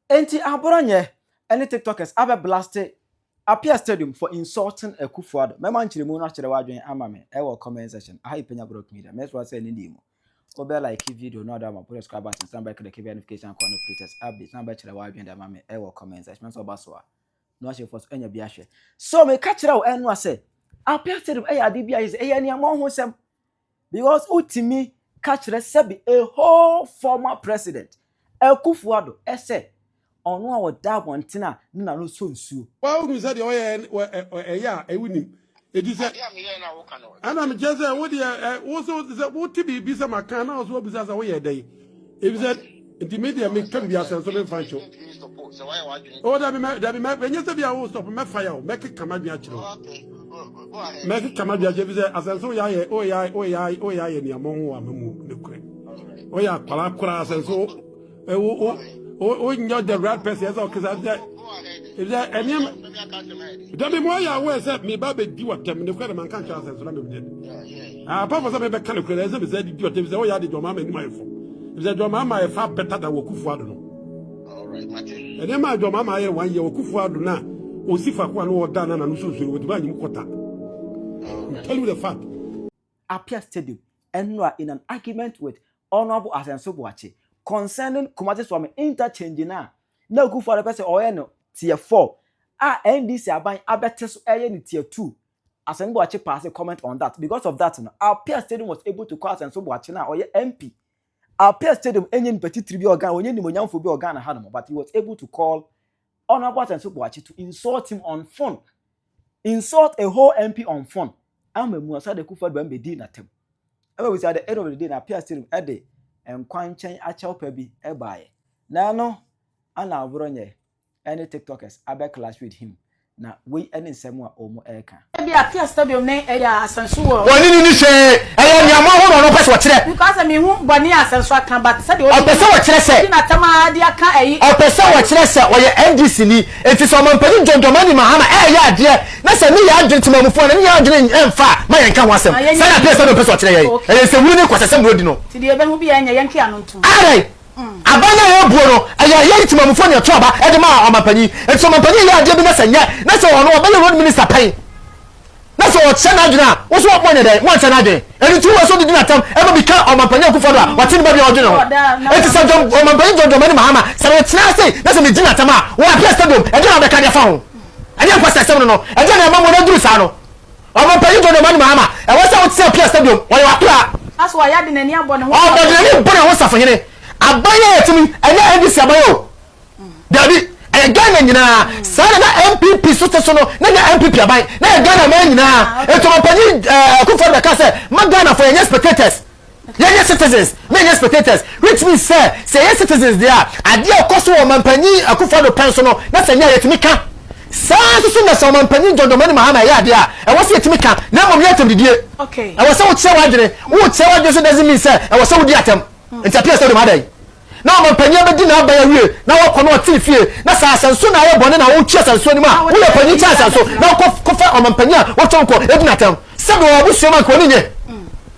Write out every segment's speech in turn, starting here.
Enti aboro nyɛ ɛne tiktokers abɛ blaste Appiah stadium for insulting Akufo Addo. Mɛma nkyerɛmu no akyerɛ w'adwene ama me ɛwɔ comment section. Aha yɛ Penya Brock Media. Mɛsrɛ sɛ nnɛ mu wobɛ like video no de ama po subscribe button san bɛ click bɛ notification icon no for latest updates na bɛkyerɛ w'adwene de ama me ɛwɔ comment section. Mɛsɛ ɔba so a na wahyɛ fo so anya bi ahwɛ. So meka kyerɛ wo ɛnoa sɛ Appiah stadium ɛyɛ ade bi a yɛ sɛ ɛyɛ aniammɔnhosɛm. Because wotumi ka kyerɛ sɛbi a whole former president Akuffo Addo sɛ ɔno a ɔda abɔnten a ne na no sɔ nsuo. Waa wo nim sɛ deɛ ɔyɛ ɛ ɛ ɛyɛ a ɛwo nim eti sɛ. Adeɛ a me yɛɛ na wo ka no. Ɛna me kyerɛ sɛ wo deɛ ɛ wo so te sɛ wo te biribi sɛ ma ka na wo so wa bisa sɛ wo yɛ dɛn. ebisɛ nti mi deɛ mi kɛm bi asɛ nso mi nfa nkyɛw o dabi mɛ dabi mɛ enye sɛ bi a o stop mɛ fa ya o mɛ keka ma dwen akyerɛ o mɛ keka ma dwen akyerɛ ebisɛ asɛ nso ya yɛ o ya o ya o ya yɛ nneɛma ho ama mu ne korɛ o yɛ akpala akora asɛ nso o o o o nyɛ the right person ɛsɛ ɔkesa ebisɛ ebisɛ ɛnneɛma dabi mo ayɛ awɔ ɛsɛ mi ba bɛ di wa tɛm ne korɛ de ma nka nkyɛn asɛ nso na mi bi dɛ. Ah, apart from sɛ mebɛka no kura na ɛsɛ mesɛ didi ɔtɛm sɛ woyɛ ade dwama ma anim ayɛ fam ɛfisɛ dwama ma ɛfa bɛta da wɔ kufoɔ ado no ɛne ma dwama ma ayɛ wanyɛ wɔ kufoɔ ado no a ɔsi fakoa no ɔda no na no sunsuro wɔtumi anyim kɔta tell you the fact Apia Stadium ɛnora in an argument with Honorable Asenso Boakye concerning Kumasi Swami interchange no a na Akufo-Addo pɛ sɛ ɔyɛ no tier 4 a NDC aban abɛte so ɛyɛ no tier 2 Asen Boakye paase comment on that because of that no Alpea stadium was able to call Asenso Boakye no a ɔyɛ MP Alpea stadium ɛnyɛ nipa titiri bi a ɔgan ɔnyɛ nimonyamfo bi a ɔgan na ha nom but he was able to call Honourable Asenso Boakye to insult him on phone insult a whole MP on phone ama mu asa de kufa do ɛmɛ di na tɛm ɛmɛ wisa de ɛdɔ de de na Alpea stadium ɛde nkwankyɛn akyɛw pɛ bi ɛbaayɛ na ɛno ana aborɔ nyɛ ne tiktokers abɛ clash with him na wei ne nsɛm a wɔn reka. Ebi a Kia Stadium ne ɛyɛ a Asansu wɔ. Ɔne ne ni hwee. Ɛyɛ nea mo ahorow no ɔpɛ sɛ ɔkyerɛ. Because me hu bɔne a Asansu aka but sɛdeɛ ɔdi. Ɔpɛ sɛ ɔkyerɛ sɛ. Ɔdi n'atam ara de aka ɛyi. Ɔpɛ sɛ ɔkyerɛ sɛ ɔyɛ NDC ni. Enti sɛ Ɔmanpanin John Dramani Mahama ɛɛyɛ adeɛ na sɛ ne yɛ adwene temanmufoɔ a na ne yɛ adwene ɛnfa a ma yɛn nka ho asɛm. Saa na Kia Stadium pɛ sɛ ɔkyerɛ yɛn. Ɛyɛ nsɛmhunu ne nkwaseasɛm na ɔdi no. Ti deɛ yɛbɛhu biara nyɛ yɛn ntwe ano ntom. Adɛn? Aban no a ɛyɛ buo no, ɛyɛ Yɛri Temamufo na ɛtoo aba de maa ɔmampanyin. Enti sɛ ɔmampanyin yɛ adeɛ bi na sɛ nyɛ na sɛ ɔno ɔbɛyɛ road minister pɛn na sɛ ɔkyɛ n'adwene a, wo nso moanyɛ dɛn? Moankyɛ n'adwene. Ɛno nti wowɔ sɛ wode di no atɛm ma bi ka ɔmampanyin Akufo-Addo a wate ne babea a ɔdwene ho. Enti sɛ John, ɔmampanyin John Dramani Mahama, sɛ metena ase na sɛ medi no atɛm a, wɔ Apia Stadium, ɛdeɛn na wobɛka de afa ho? Ɛnyɛ nkwaseasɛm no no, ɛdeɛn na ɛma moanaduru saa no? Ɔmanpanyin John Dramani Mahama, ɛwɔ sɛ wote sɛ Apia Stadium, ɔyɛ w'akoraa. Aso wayɛ ade n'ani abɔ ne ho safohene. Ɔbɔ n'ani bɔ ne ho safohene. Aban yi a yɛte mu yi, ɛnyɛ NDC aban o. Dabi, ɛyɛ Ghana nyinaa. Saa na na NPP nso te so no, na ɛnyɛ NPP aban, na ɛyɛ Ghana man nyinaa. Enti Ɔmanpanyin Akufo-Addo bɛkaa sɛ, mma Ghanafoɔ yɛnyɛ spectators. Yɛnyɛ citizens na yɛnyɛ spectators which means sɛ sɛ yɛyɛ citizens deɛ a adeɛ a ɛkɔ so wɔ Ɔmanpanyin Akuffo Addo pɛn so no na sɛ nyɛ a yɛtumi ka. Saa ara nso so na sɛ Ɔmanpanyin John Dramani Mahama ɛyɛ adeɛ a ɛwɔ sɛ yɛtumi ka na mmom nyɛ atɛmdidie. Ɛwɔ sɛ wokyerɛ w'adwene. Worekyerɛ w'adwene nso doesn't mean sɛ ɛwɔ sɛ wodi atɛm. Nti Apia Stadium ha dɛn? Na Ɔmanpanyin abɛdi n'aban awie na wakɔ na ɔte ne fie na sɛ asɛnso na ayɛ bɔne na wotwe asɛnso anim a woyɛ panyin kyɛn asɛnso na wokɔ kɔfa Ɔmanpanyin a watwa wo kɔ edi no atɛm sɛ mewɔ abusua mu a nka ɔne nyɛ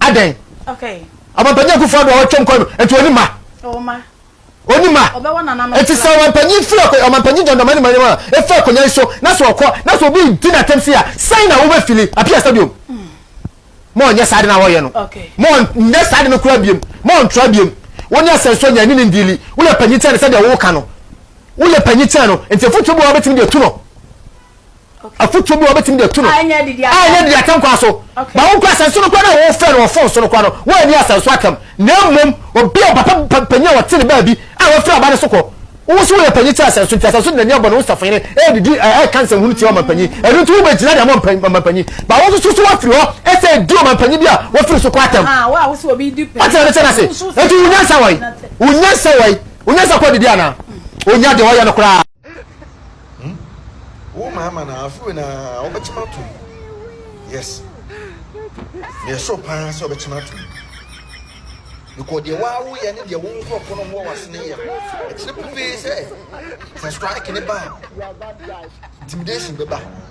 Adɛn? Okay. Ɔmampanyin Akufo Addo a watwam kɔ no, nti ɔni mma? Ɔwɔ mma. Ɔni mma? Ɔbɛwɔ nananom kora. Nti sɛ ɔmampanyin firi akɔ, ɔmampanyin John Dramani Mahama a efiri akonnwa yi so na sɛ ɔkɔ na sɛ obi redi no atɛm sei a, sɛn na wobefili? Apia Stadium? Ma ɔnyɛ saa ade no a wɔreyɛ no. Okay. Ma ɔnyɛ saa ade no koraa biam. Ma ɔntra biam. Wo ne Asɛnsuo nyɛ, ɛne no ndeali. Woyɛ panyin kyɛn no sɛdeɛ woreka no. Woyɛ panyin kyɛn no, nti afotuo bi wɔ hɔ a wobetumi de atu no. afotuo bi a wɔbɛtumi de atu no a ɛnyɛ didi atɛm kwa so ba wo nkɔ asɛnso no kwa no a wɔfrɛ no wɔ fon so no kwa no wɔanni asɛnso atɛm na mmom obi a papa panyin a wɔte ne baabi a wɔfrɛ aba no so kɔ wo so woyɛ panyin kyerɛ asɛnso nti asɛnso de n'ani abɔ ne ho safoyere ɛredidi ɛka nsɛmhunu tia ɔmampanyin ɛno nti wobɛgyina de ama ɔmampanyin ba wo nso so woafiri hɔ ɛsɛ ɛdi ɔmampanyin bi a wɔfiri so kɔ atɛm ɔtena ne sɛ no ase ɛnti wonyansa wɔe wonyansa wɔe wonyansa kɔ didi anaa onya deɛ ɔyɛ no koraa Hmm? Wo ma ama na afei na wobɛkyem ato mu. Yes. Meyɛ soro paa sɛ wobɛkyem ato mu. Because deɛ waa woyɛ ne deɛ wo nkurɔfoɔ no wɔ w'asene yɛ no, ɛkyerɛ pefee sɛ sɛ strike ne ba a, intimidation bɛba.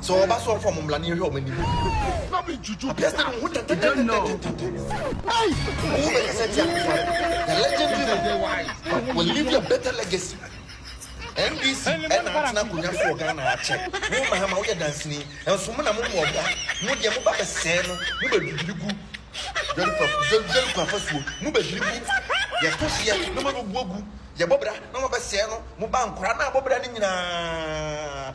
Sɛ ɔba so ɔfam mmla ne hwɛ ɔma nim. Na me juju. Apia sɛ ne ho tete tete tete. Hey, wo bɛ kasa ti akuma. The legendary man will leave a better legacy. NDC ɛna atena akonnwa so wɔ Ghana akyɛ. Wo Mahama woyɛ danseni. Nso mo na mo mu ɔba. Mo deɛ mo ba bɛ sɛɛ no. Mo bɛ dwidwiri gu dwari kwa fasuo. Mo bɛ dwiri gu. Yɛ to hyeɛ na mo bɛ buo gu. Yɛ bɔ bra na mo bɛ sɛɛ no. Mo ba nkora na abɔ bra ne nyinaa.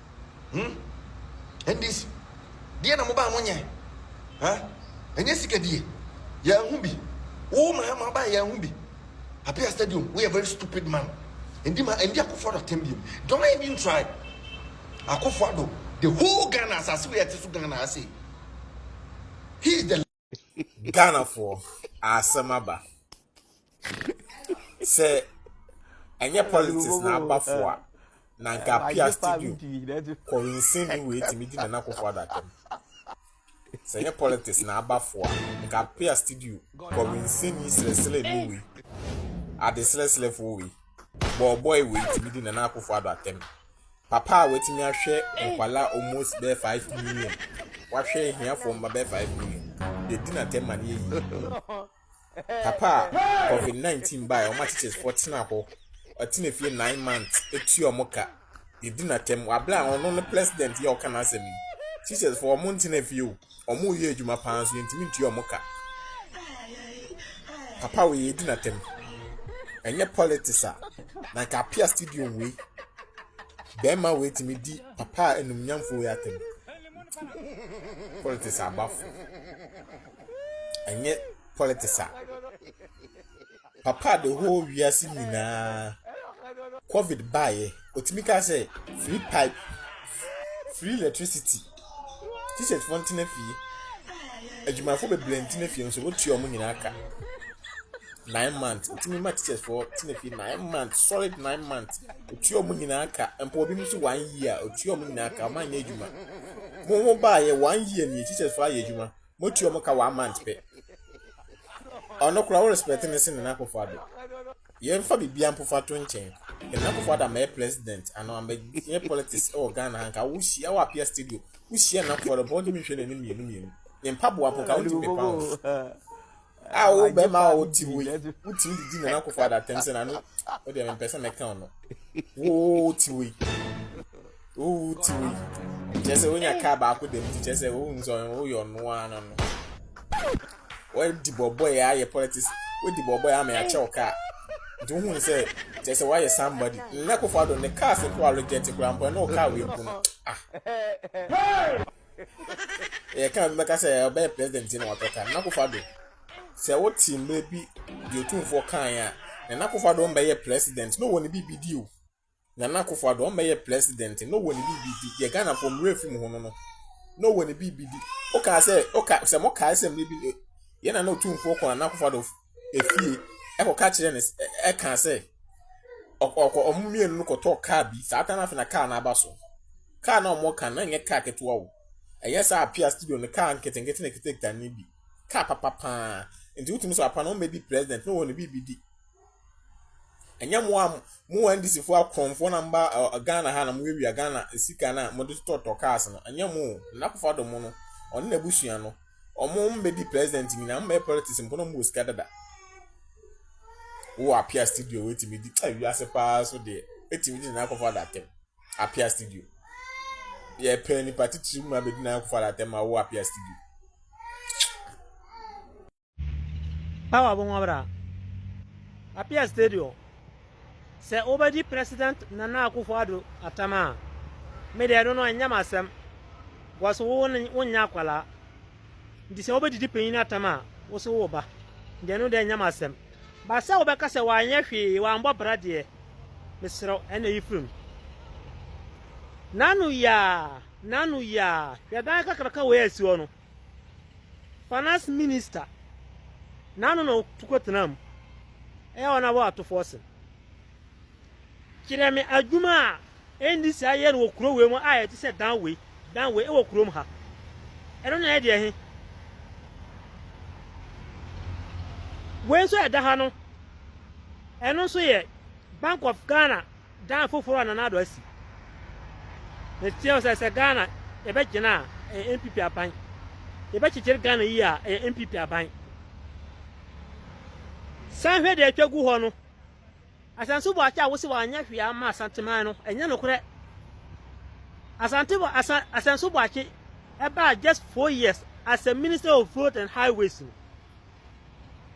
Hmm? NDC, deɛ na mobaa mo nyɛ? Ha? Ɛnyɛ sika die? Yɛahu bi. Wo mahama aba a yɛahu bi. Apia Stadium, woyɛ very stupid man. Ndi ma, ndi akofo ado atɛm biom. Don't even try. Akofo ado, the whole Ghana, asase wei a ɛte so Ghana ha sei. He is the ghanafoɔ asɛm aba sɛ ɛnyɛ politics na abafo a na nka apia studio kɔwinsin ne wei tumi di nana kofo adakam sɛ ɛnyɛ politics na abafo a nka apia studio kɔwinsin ne srɛsrɛ ne wei ade srɛsrɛfoɔ wei bɔɔbɔe wei tumi di nana kofo adakam. Papa a watumi ahwɛ nkwadaa almost bɛyɛ five million, wahwɛ ahiafoɔ mma bɛyɛ five million, deɛ di n'atɛm ma no yɛ yie. Papa a covid nineteen baa yɛ, wɔn akyekyefoɔ tena hɔ, ɔtena fie nine months, etua wɔn ka, deɛ di n'atɛm, wabla a ɔno ne president yɛ ɔka n'asɛm yi. Teachers foɔ wɔn ntena fie o. ɔmo yɛ adwuma paa nso yɛntumi ntua ɔmo ka papa wei yɛdi n'atɛm ɛnyɛ politics a na nka apia stadium wei bɛrima wei tumi di papa a enumnyamfo wei atɛm politics abafo ɛnyɛ politics a. Papa a the whole wiase nyinaa covid baeɛ ɔtumi kaa sɛ free pipe free electricity t-shirt fo ntena fie adwumayɛfo bebree ntena fie nso wotua wɔn nyinaa ka nine months ntumi ma t-shirt fo tena fie nine months solid nine months otua wɔn nyinaa ka mpo obi nso one year otua wɔn nyinaa ka wɔn anyɛ adwuma mo ho baeɛ one year nie t-shirt fo ayɛ adwuma. motua ɔmo ka one month pɛ ɔno koraa wo respect ne se Nana Akufo Addo yɛmfa bibia mpofa to nkyɛn Nana Akufo Addo amɛyɛ president ano amɛyɛ politics ɛwɔ Ghana ha nka wohyia wɔ apia studio wohyia Nana Akufo Addo mpa wotumi nhwɛ n'anim mmienu mmienu ne mpaboa mpo nka wotumi pepa ho a wo bɛma a wote wei wotumi de di nana akofo adatɛm sɛ nano wodeɛ mempɛ sɛ mɛka no wote wei wote wei kyerɛ sɛ wonya kaa baako dam nti kyerɛ sɛ wohu sɛ woyɛ ɔno a no no wadi bɔbɔɛ ayɛ politics wadi bɔbɔɛ ama yɛakyɛ wo kaa nti wohu sɛ kyerɛ sɛ woayɛ somebody nana akofo ado ne cars nko a reject koraa mpo ɛne wo kaa wei mpo no ah yɛ kan bi bɛka sɛ ɔbɛyɛ president na watɔ kan n'akofa do sɛ wote mmerɛ bi deɛ otumfoɔ kan a na n'akofa do ɔmbɛyɛ president na ɔwɔ ne biribi di o na n'akofa do ɔmbɛyɛ president na ɔwɔ ne biribi di deɛ ghanafoɔ mmerɛ efi mu ho no no na ɔwɔ ne biribi di wokaa sɛ woka sɛ mo kaa sɛ mmerɛ bi yɛn na na otumfoɔ kɔ na n'akofa do. efie kɔka kyerɛɛ no sɛ kaa sɛ ɔkɔ ɔkɔ wɔn mmienu no kɔtɔɔ kaa bi. Saa time no afei na kaa no aba so. Kaa no a wɔka no, na ɛnyɛ kaa ketewa o. Ɛnyɛ saa apia studio no kaa nketenkete na ɛkitakita no bi. Kaa papa paa. Nti wotumi sɛ apa no wɔmmɛdi president na wɔn biribi di. Ɛnyɛ mo a mo NDCfoɔ akorɔmfoɔ na mba Ghana ha na mowiawia Ghana sika no a mode totɔtotɔ cars no. Ɛnyɛ mo o. Nana Akufo-Addo mo no, ɔne n'abusua no. Ɔmo bɛdi president nyinaa, ɔmo bɛyɛ politics mpo na ɔmo wɔ sika dada. Wowɔ apia studio wetumi di, ɛ wiase paa so deɛ, etumi di nana akɔfo adatɛm. Apia studio. Yɛ pɛ nipa titiri mu abɛdi nana akɔfo adatɛm ma wowɔ apia studio. Awa bɔn abra. Apia studio. Sɛ wobɛgye President Nana Akuffo Addo atam a, me deɛ ɛno no ɛnyɛ m'asɛm because wo no wonyɛ akwadaa nti sɛ wobɛdidi panyin atam a wo so wo ba deɛ ɛno deɛ ɛnyɛ m'asɛm ba sɛ wobɛka sɛ wanyɛ hwee wambɔ bra deɛ mesrɛ ɛna yi firim nano yaa nano yaa hwɛ dan kakraka wei asi hɔ no Finance Minister n'ano na ɔto kɔtena mu yɛ wɔn abɔ atofoɔ sen. Kyerɛ me adwuma a NDC ayɛ no wɔ kuro wei mu a ɛte sɛ dan wei, dan wei wɔ kurom ha. Ɛno na ɛyɛ deɛ he. Wei nso ɛda ha no, ɛno nso yɛ Bank of Ghana Dan foforɔ a Nana Addo asi. Meteɛ wo sɛ sɛ Ghana yɛbɛgyina a ɛyɛ NPP aban. Yɛbɛkyekyere Ghana yie a ɛyɛ NPP aban. San hwɛ deɛ atwa gu hɔ no. Asansu Boakye a wose wanyɛ hwee ama Asanteman no, ɛnyɛ nokorɛ. Asante Asan Asansu Boakye ɛbaa just four years as a Minister of Road and Highways no.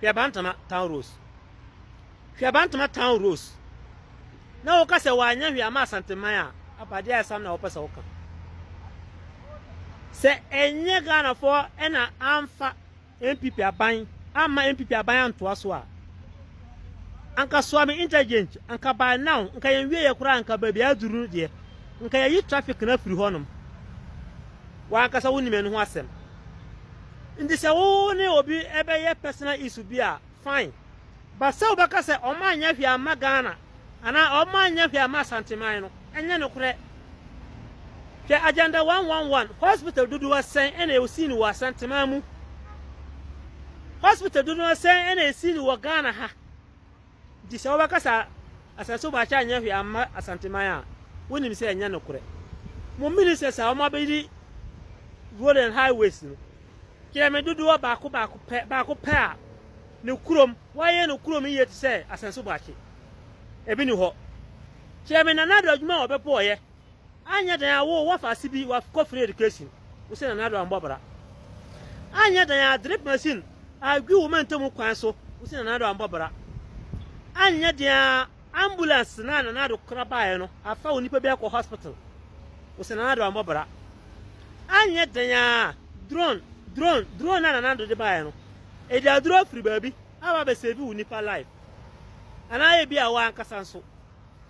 hweabantama town rose hweabantama town rose na woka sɛ wɔanyɛ hwee ama asanteman a abadeɛ a ɛsam na wɔpɛ sɛ woka sɛ ɛnyɛ ghanafoɔ ɛna amfa npp aban amma npp aban antoa so a anka soame interchange anka by now anka yɛn wie yɛ koraa anka baabi aduru deɛ anka yɛyi traffic na firi hɔnom wɔankasa wonim ɛno ho asɛm Nti sɛ wo ne obi bɛyɛ personal issue bi a, fine. But sɛ wobɛka sɛ ɔma anyɛ hwee amma Ghana anaa ɔma anyɛ hwee amma Asanteman no, ɛnyɛ nokorɛ. Hwɛ agenda 111, hospital dodoɔ sɛn na ɛsii no wɔ Asanteman mu? Hospital dodoɔ sɛn na ɛsii no wɔ Ghana ha? Nti sɛ wobɛka sɛ asase so bɔakyɛ anyɛ hwee amma Asanteman a, wonim sɛ ɛnyɛ nokorɛ. Mo ministers a wɔabɛyi road and highways no, kyerɛ me dodoɔ baako baako pɛ baako pɛ a ne kurom wɔayɛ no kurom yie te sɛ asase so bɔakye. Ebi ni hɔ. Kyerɛ me Nana Ado adwuma a ɔbɛpo ɔyɛ. Anyɛ dan a wo wɔ afaase bi wa kɔ free education wo sɛ nanado anbɔ bra. Anyɛ dan a drip machine a gwi wo ma ntamu kwan so wo sɛ nanado anbɔ bra. Anyɛ dan a ambulance na nanado kora baeɛ no afa wo nipa bi akɔ hospital wo sɛ nanado anbɔ bra. Anyɛ dan a drone drone drone na nanado de baeɛ no ɛde aduro afiri baabi aba abɛsɛvi wo nipa life anaa ebi a wo ankasa nso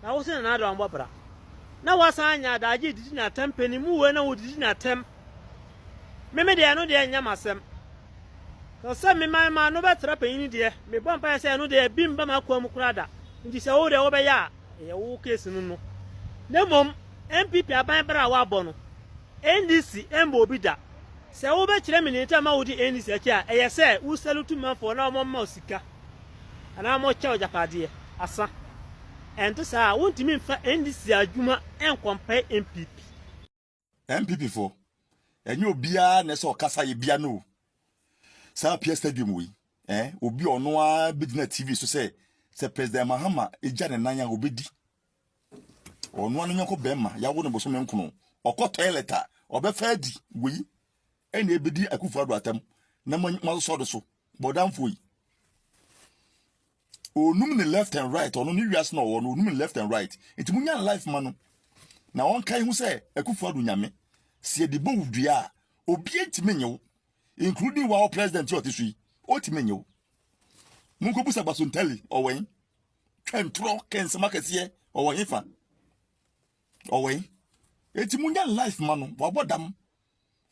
Na wo se Nana Addo ambɔ bra na wasan anya adagye redidi n'atɛm panin mu wei na wodidi n'atɛm me me deɛ ɛno deɛ nyɛ m'asɛm sɛ sɛ me man ma no bɛtra panyin deɛ mebɔ mpaeɛ sɛ ɛno deɛ bi mba m'akoa mu koraa da nti sɛ wo deɛ wobɛyɛ a ɛyɛ wo case no no na mmom NPP aban bra a wabɔ no NDC mmɔ obi da. Sɛ wobɛkyerɛ me nea nti a ɛma wode NDC akyi a, ɛyɛ sɛ wo salute manfoɔ na wɔmma wo sika anaa wɔkyɛ wo agyapadeɛ, asa. Ɛnte saa a, wontumi mfa NDC adwuma nkɔmpae NPP. NPP foɔ, ɛnyɛ obiara na ɛsɛ ɔkasa yɛ bia no o. Saa Apia Stadium wei, eh, obi a ɔno ara bɛgyina TV so sɛ, sɛ President Mahama gya ne nan a, obɛdi. Ɔnoa ne nyɔnko bɛrima yawo no bosome nkono. Ɔkɔ toilet a, ɔbɛfa adi. Wei ɛna ɛbɛdi Akufo Addo atam na moasosɔ do so. Bɔdamfoɔ yi. Ɔnum ne left and right, ɔno ne wiase na ɔwɔ no, ɔnum ne left and right. Nti mo nya life ma no. Na ɔnka ho sɛ Akufo Addo nyame. Sɛ yɛde bɔ wo dua a, obi ntumi nye wo. Including wa wo president yi ɔte so yi, ɔtumi nye wo. Monkɔbusa Basontali, ɔwɛn. twɛntorɔ kɛnsɛm akɛseɛ ɔwɔ hefa ɔwɔ yi eti mu nya life ma no wabɔ dam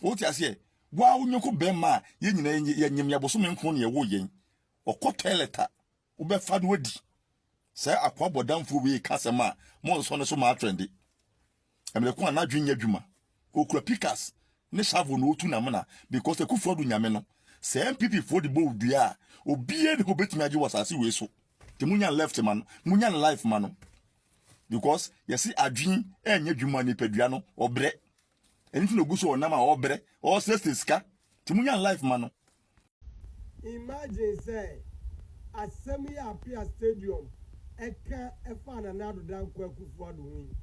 wote aseɛ waa wo nyɔnko bɛrima a yɛn nyinaa yɛnyem yɛbosome nko ne yɛwo yɛn ɔkɔ toilet a wobɛfa no adi sɛ akoa bɔdamfoɔ wei ka sɛm a monsɔ no so ma atwɛnde Ɛmere ko a n'adwene nyɛ adwuma. Okura pikas ne shovel na otu n'amena because Akufo Addo nyame no. Sɛ NPP foɔ de bɔ wo dua a, obiara nni hɔ obetumi agye wo asase wei so. Nti mo nyan left ma no, mo nyan life ma no. Because yɛse adwene ɛnyɛ adwuma a nipadua no ɔbrɛ. Ɛno nti na ogu so ɔnam a ɔbrɛ, ɔsrɛsrɛ sika. Nti mo nyan life ma no. Imagine sɛ asɛm yi a Apia Stadium ɛka ɛfaa Nana Addo Dankwa Akufo-Addo ho yi,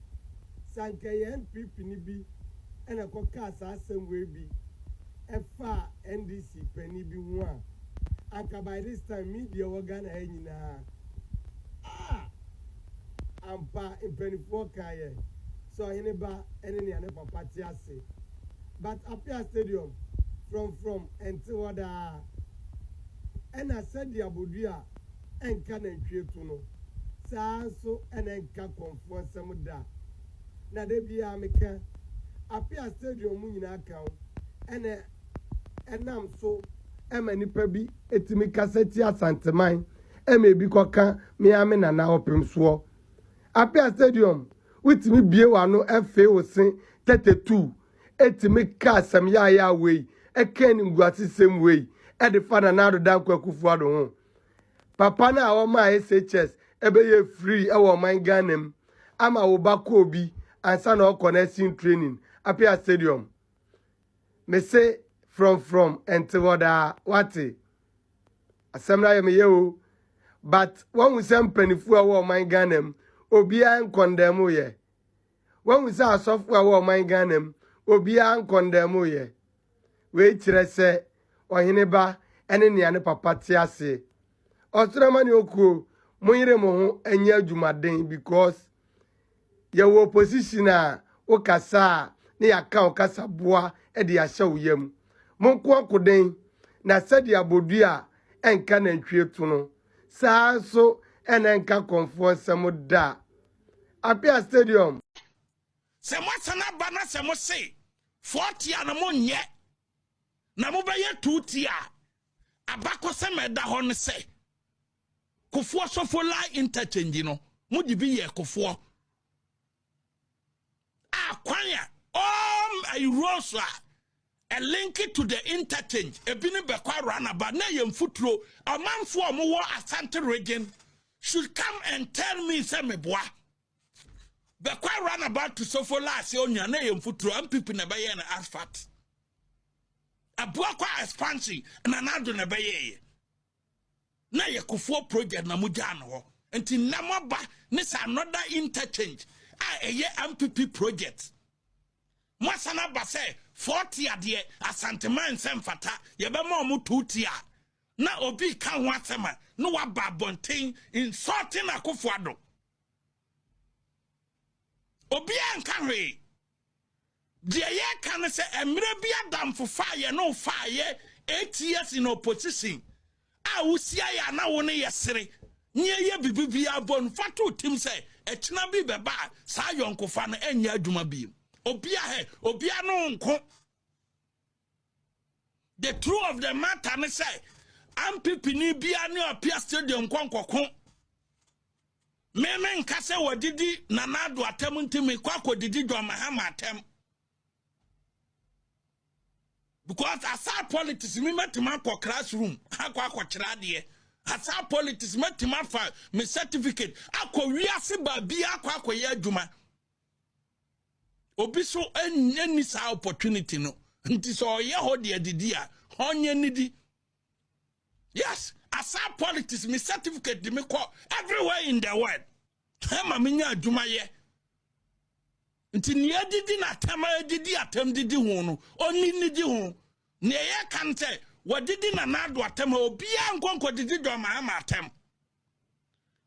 sɛ anka ɛyɛ NPP ni bi ɛna ɛkɔ kaa saa asɛm wei bi ɛfaa NDC panin bi ho a, anka by this time media ɛwɔ Ghana ha nyinaa ah! Ampa mpaninfoɔ kaeɛ sɛ Ɔhene ba ɛne nea ne papa te ase. but Apia stadium frɔmfrɔm ɛnte hɔ daa ɛna sɛdeɛ abodua ɛnka nantwie to no saa nso ɛna ɛnka kɔmfoɔ nsɛm da na da biara meka Apia stadium mu nyinaa ka ho ɛna ɛnam so ɛma nipa bi ɛtumi kasa tia Asanteman ɛma ɛbi kɔka mea me nana ɔpemsoɔ Apia Stadium, wotumi bue w'ano fee wo se tɛtɛ tuu tumi ka asɛm yaayaa wei, ka animguasesɛm wei de fa Nana Addo Dankwa Akufo-Addo ho. Papa no a ɔmaa SHS bɛyɛɛ free wɔ ɔman Ghana mu ama wo ba kɔɔ bi ansa na ɔrekɔ nursing training, Apia Stadium. Mese frɔmfrɔm ɛnte hɔ daa wate? Asɛm no ayɛ me yɛ o but wahu sɛ mpanimfoɔ a wɔ ɔman Ghana mu obiara nkɔndɛɛmo yɛ. Wahu sɛ asɔfoɔ a wɔ ɔman Ghana mu obiara nkɔndɛɛmo yɛ. Wei kyerɛ sɛ ɔhene ba ɛne nea ne papa te aseɛ. Ɔsoro amane okuo, mo yere mo ho ɛnyɛ adwumaden because Yɛwɔ position a wo kasa a na yɛaka wo kasa boa de ahyɛ wo yam. Mo nko ako den, na sɛdeɛ abodua a ɛnka nantwie to no, saa ara nso na ɛnka kɔmfoɔ nsam da. Apia Stadium. Sɛ moasan aba na sɛ mo se four tier no mo nyɛ na mo bɛyɛ two tier a, abakɔsɛm a ɛda hɔ ne sɛ, Kofoɔ Sofo Line Interchange no, mo de bi yɛɛ Kofoɔ a kwan a all ayi roads a ɛlinki to the interchange ebi ne bɛkɔ awura naba na yɛ mfuturo ɔmanfoɔ a wɔwɔ Asante region should come and tell me sɛ meboa bɛkɔ awura naba to Sofo Laase onua na yɛ mfuturo mpp na ɛbɛyɛ no asphalt aboa kɔ expansion na n'ado na ɛbɛyɛɛyɛ na yɛ kofoɔ project na mo gyaa no hɔ nti nnɛ mo aba ne sɛ another interchange a ɛyɛ mpp project mo asan aba sɛ forty adeɛ asanteman nsɛ mfata yɛbɛma ɔmo two tia na obi ka ho asɛm a na waba abɔnten insulting akofo ado obiara nka hwee Deɛ yɛreka ne sɛ mmerɛ bi adamfofa a yɛne wo faeɛ eight years in opposition a wosiaeɛ a na wo ne yɛ sere ne ɛyɛ biribi biara bɔ no fa to tim sɛ ɛkyena bi bɛba a saa yɔnkofa no ɛnyɛ adwuma biem obia hɛ obia no nko The true of the matter ne sɛ ampepini biara ne ɔpia stadium nkɔ nkɔko meme nka sɛ wɔdidi nana ado atam nti mekɔ akɔdidi John Mahama atam because aside politics me mɛtumi akɔ classroom akɔ akɔkyerɛ adeɛ aside politics mɛtumi afa me certificate akɔ wiase baabi akɔ akɔyɛ adwuma Obi so ɛnyɛ ni saa opportunity no nti sɛ ɔyɛ hɔ deɛ didi a ɔnyɛ nidi yes asa politics me certificate de me kɔ everywhere in the world ɛma me nya adwuma yɛ nti nea didi na atɛm a didi atɛm didi ho no ɔni nidi ho nea yɛ kan sɛ wɔdidi na n'ado atɛm a obiara nkɔnkɔ didi dɔm ama atɛm.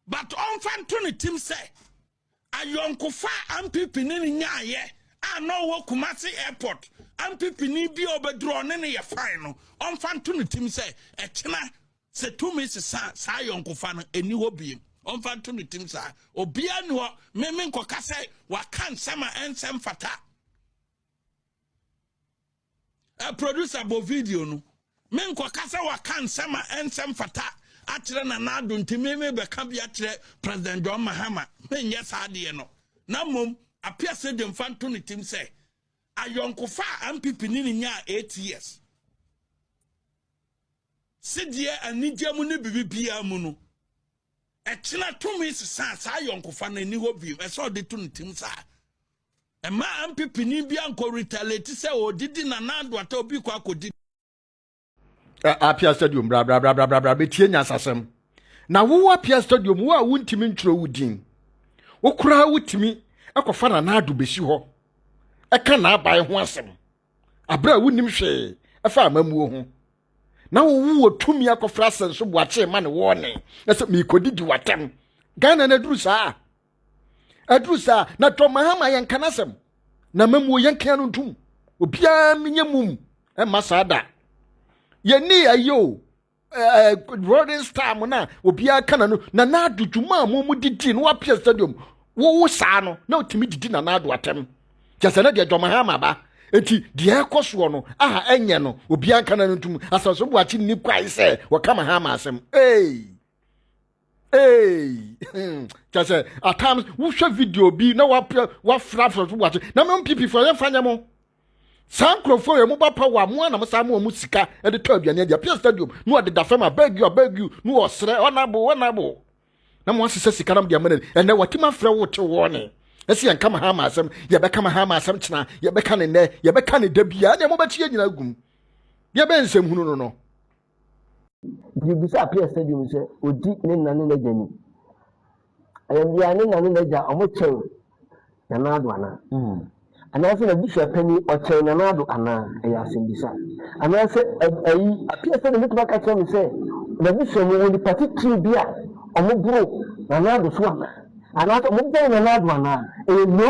but ɔmfa nto ne tim sɛ ayɔnkofa a ampipi ne ne nyaayɛ a na ɔwɔ kumase airport ampipi ne bi a ɔbɛduru ɔne ne yɛ fine no ɔmfa nto ne tim sɛ ɛkyena sɛ tumi sesa saa ayɔnkofa no ɛni hɔ biem ɔmfa nto ne tim saa obiara ni hɔ meme nkɔka sɛ waka nsɛm a ɛnsɛm fata Eh producer bɔ video no. Me nkɔka sɛ waka nsɛm a ɛnsɛ mfata akyerɛ Nana Addo nti me mebɛka bi akyerɛ President John Mahama. Menyɛ saa adeɛ no. Na mmom Appiah Sejwe mfa nto ne tim sɛ ayɔnkofa a NPP ne ne nyaa eight years sedeɛ anigye mu ne biribiara mu no ɛkyena tumi sesaa saa ayɔnkofa no ani hɔ bio ɛsɛ ɔde to ne tim saa Ɛmma MPPni bi ankɔ retaliate sɛ ɔredidi Nana Addo ata obi kɔ akɔdidi. Apia Stadium bra bra bra bra bra bra betie nyasasɛm. Na wo Apia Stadium wo a wontumi ntwerɛ wo din. Wo koraa wotumi ɛkɔfa Nana Addo bɛsi hɔ ɛka n'aban ho asɛm. Aberɛ a wonim hwee ɛfa amammuo ho. Na wo wowɔ tumi akɔfrɛ asɛnso boakye ma ne wɔɔne na sɛ meekɔdidi w'atam. Ghana na aduru saa. aduru saa na dɔm ahama yɛn kan asɛm na mamuo yɛn kan no ntum obiara menyɛ mum ɛma saa da yɛni ayɛ o rolling star mu na obiara ka na no na n'ado dwuma a mo mu didi no wapia stadium wowo saa no na otumi didi na n'ado atɛm kyɛ sɛ na deɛ dɔm ahama ba eti deɛ ɛkɔ soɔ no aha ɛnyɛ no obiara ka na no ntum asase bu akyi ni kwae sɛ wɔka ma ha ama asɛm ee. Hey. Hey, hmm, kyɛ sɛ at times wohwɛ video bi na wafra afra so wate na mo mpipifoɔ yɛmfa nyɛ mo saa nkurɔfoɔ yɛ mo ba pa wɔ amoa na mo saa mo ɔmo sika de tɔ aduane adi apia stadium na ɔde da fam abeg you abeg you na ɔsrɛ ɔnabo ɔnabo na mo asesɛ sika na mo de ama n'ani ɛnɛ wɔtim afrɛ wo te wɔɔ ne ɛsi yɛn kama ha ma asɛm yɛbɛka ma ha ma asɛm kyena yɛbɛka ne nnɛ yɛbɛka ne da biara ne ɛmo bɛkyi yɛ nyina gum yɛbɛn nsɛm hunu no no Yesu bisaa Peter sɛ bio sɛ odi ne na ne n'agya ni. Ɛyɛ bia ne na ne n'agya ɔmo kyɛn Nanaado anaa? Mm. Anaasɛ n'abusua panyin ɔkyɛn Nanaado anaa? Ɛyɛ asɛmbisa. Anaasɛ ayi apia sɛ de mɛtumi aka kyerɛ me sɛ n'abusua mu wɔ nipa titiri bi a ɔmo boro Nanaado so anaa? Anaasɛ ɔmo bɛn Nanaado anaa? Ɛyɛ no.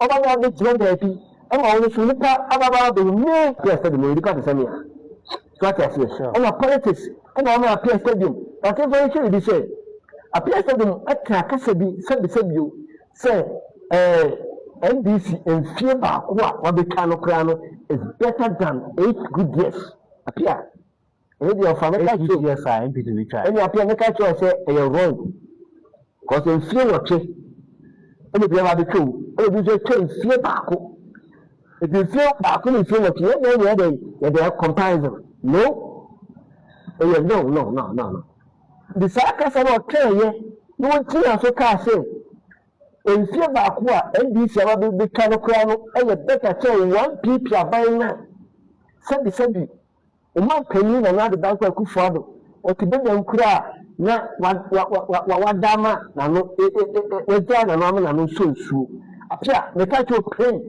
Ɔba no abegyina baabi ma wo no so nipa ababaawa bɛyɛ me. Pia stadium yɛ nipa te sɛ mea so ate aseɛ ɛna politics ɛna ama apia stadium atemfo yi kyerɛ bi sɛ apia stadium ɛka akasa bi sɛbisɛ bio sɛ ɛɛ ndc mfie baako a wabɛtwa no koraa no is better than eight good years apia Ɛyɛ deɛ ɔfa no ka kyerɛ o. Ɛyɛ saa mp tumi twa. Ɛne afei meka kyerɛ sɛ ɛyɛ wrong cause mfie nwɔtwe ɛna obi aba abɛtwa o ɛna obi nso atwa mfie baako ɛti mfie baako ne mfie nwɔtwe yɛn deɛ yɛn deɛ yɛn deɛ comparison no ɛyɛ no no no no no de saa kasa no ɔka ɛyɛ na wɔn ti na so kaa sɛ mfie baako a ndc aba bɛtwa no koraa no ɛyɛ better kyɛn one pp aban no sɛbi sɛbi. Ɔman panyin Nana Addo Dankwa Akufo Addo, ɔte Badwam kura a na wada ama n'ano, wagyaa n'ano ama n'ano nsɔ nsuo. Apia, meka kyerɛ wo pɛn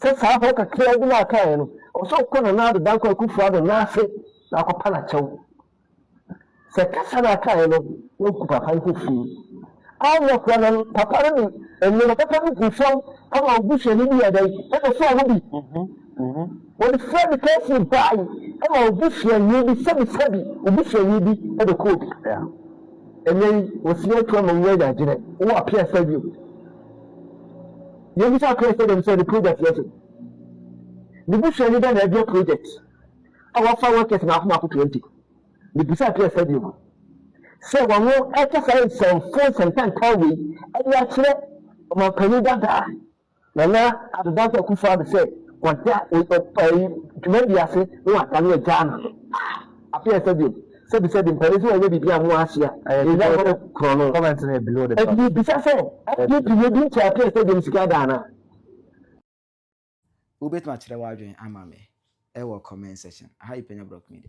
sɛ saa hɔ kakraa bi no a kaeɛ no, ɛwɔ sɛ wokɔ Nana Addo Dankwa Akufo Addo nan ase na akɔpa no akyɛw. Sɛ kasa no a ɔkaeɛ no yɛ nku papa yi fofiri a, ɔnyɛ korɔ na papa no de nneɛma papa no gu fam ama wo busuani bi yɛ dɛn? Ɛbɛsɔɔ no bi. Wɔde Fred Kelsey bae ma wo busuani bi, sɛbisɛbi wo busuani bi bɛkɔ obi. Ɛnnɛ yi, wɔsi atu ama wo anya adwene, wowɔ apeasa bio. Yɛbisa apeasa dɛm sɛ ne project yɛ sɛ, ne busuani bɛn na ɛbia project? a wɔafa Rutgers mmaako mmaako twenty. Mibisaa Pierre Sediou sɛ wɔreka saa nsɛmfua nsɛmpa ntaa wei de akyerɛ ɔmampanyin dada a Nana Addo Dankwa Akufo-Addo sɛ wada dwumadi ase na wada no agyaa no no. Ah, Pierre Sediou, sɛbisɛbi mpanyin sɛ wɔnyɛ biribi a mo ase a, ɛyɛ wɔn korɔno. Comment no yɛ below the Ɛde bisa sɛ, ɛde pii edi nkyɛn a Pierre Sediou sika ada anaa? Wobɛtumi akyerɛ w'adwene ama me wɔ comment section. Aha yi Panya Brock Media.